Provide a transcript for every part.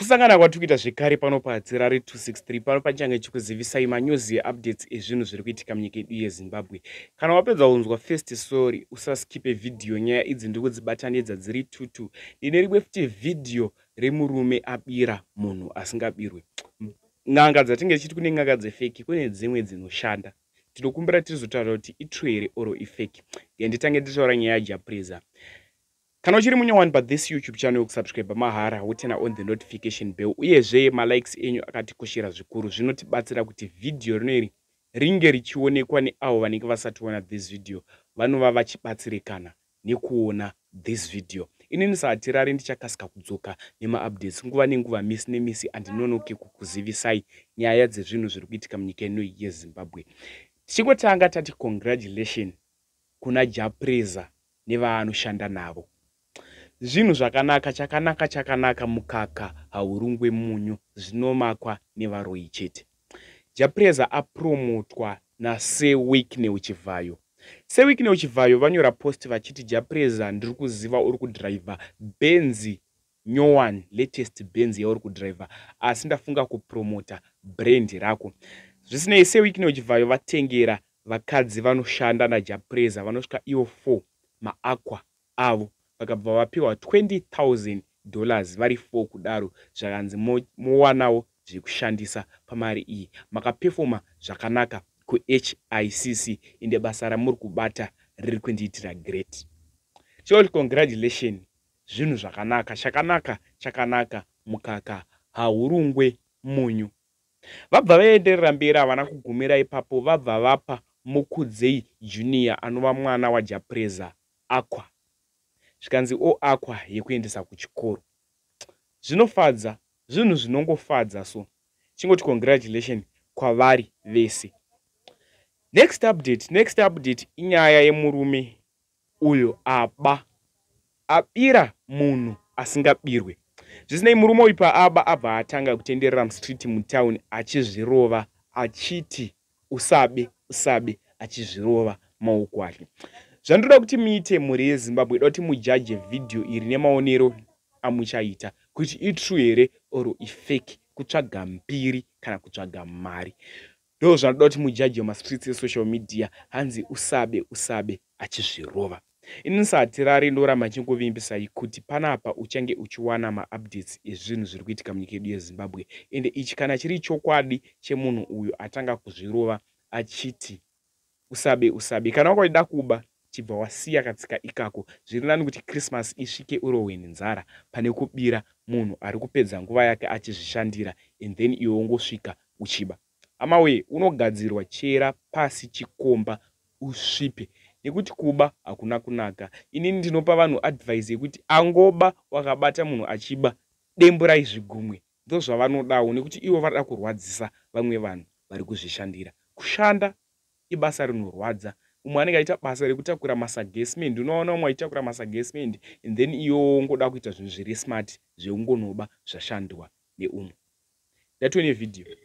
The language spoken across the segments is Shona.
Kusangana kwatiri kuita zvekare pano paHatirari 263 pano panichange chikuzivisai manews eupdates ezvinhu zviri kuitika munyika yedu yezimbabwe kana wapedza kunzwa first sorry usaskipe vhidhiyo nyaya idzi ndiri kudzibatanidza dziri tutu ndine rimwe futi vhidhiyo remurume abira munhu asingabirwe n'anga dzatinge tichiti kune n'anga dzefeki kune dzimwe dzinoshanda tinokumbira tirizotaura kuti itru here oro ifeki nditange nditaura nyaya yajapreza Kana uchiri munyowani pa this YouTube channel yokusubscriber mahara wotena on the notification bell uyezve ma likes enyu akatikoshera zvikuru zvinotibatsira kuti video rino iri ringe richionekwa neavo vanenge vasationa this video vanova vachibatsirikana nekuona this video ini ndisahatirari ndichakasika kudzoka nemaupdates nguva nenguva misi nemisi andinonoke kukuzivisai nyaya dzezvinhu zviri kuitika munyika ino yezimbabwe tichingotanga tati congratulation kuna jah prayzah nevaanoshanda navo zvinhu zvakanaka chakanaka chakanaka mukaka haurungwe munyu zvinomakwa nevaroyi chete jah prayzah apromotwa nasir wicknel chivhayo sir wicknel chivhayo vanyora post vachiti jah prayzah ndiri kuziva uri kudriver benzi New one latest benz yauri kudriver asi ndafunga kupromota brand rako zvisinei sewikney uchibvayo vatengera vakadzi vanoshanda najapreza vanosvika ivo 4 maaqua avo vakabva vapiwa 20000 dollars vari 4 kudaro zvakanzi mowanawo mo zvekushandisa pamari iyi makapefoma zvakanaka kuhicc ende basa ramuri kubata riri kundiitira great chol congratulation Zvinhu zvakanaka, chakanaka, chakanaka, mukaka, hahurungwe, munyu. Vabva vaenderera mberi havana kugumira ipapo vabva vapa Mukudzei Junior anova mwana waJapreza Aqua zvikanzi o Aqua yekuendesa kuchikoro. Zvinofadza, zvinhu zvinongofadza so. Chingoti congratulation kwavari vese. Next update, next update inyaya yemurume Uyo aba abira munhu asingabirwe. Zvisinei murume uyu paaba abva atanga kutenderera mustreet mutown achizvirova achiti usabe usabe achizvirova maoko ake. Zvandoda kuti muite mhuri yeZimbabwe ndoda kuti mujaje video iri nemaonero amuchaita kuti itrue here or ifake kutsvaga mbiri kana kutsvaga mari. Ndoo zvanoda kuti mujaje mastreets esocial media hanzi usabe usabe achizvirova. Ini sahatirari ndoramba ndichingovimbisa kuti panapa uchange uchiwana maupdates ezvinhu zviri kuitika munyika yedu yeZimbabwe ende ichi kana chiri chokwadi chemunhu uyu atanga kuzvirova achiti usabe usabe kana wanga uchida kuba chibva wasiya katsika ikako zviri nani kuti christmas isvike urohwe nenzara pane kubira munhu ari kupedza nguva yake achizvishandira and then iwe ungosvika uchiba hama wee unogadzirwa chera pasi chikomba usvipe nekuti kuba hakuna kunaka inini ndinopa vanhu advise yekuti angoba wakabata munhu achiba demburai zvigumwe Ndozvavanodawo nekuti ivo varida kurwadzisa vamwe vanhu vari kuzvishandira. Kushanda ibasa rinorwadza. Umwe anenge aita basa rekutakura masaga esimendi unoona umwe achitakura masaga esimendi and then iyowo wongoda kuita zvinhu zviri smart zveungonoba zvashandwa neumwe. Ndatiwe nevhidhiyo.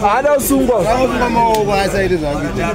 haada usungwa maoko asaite zvakuita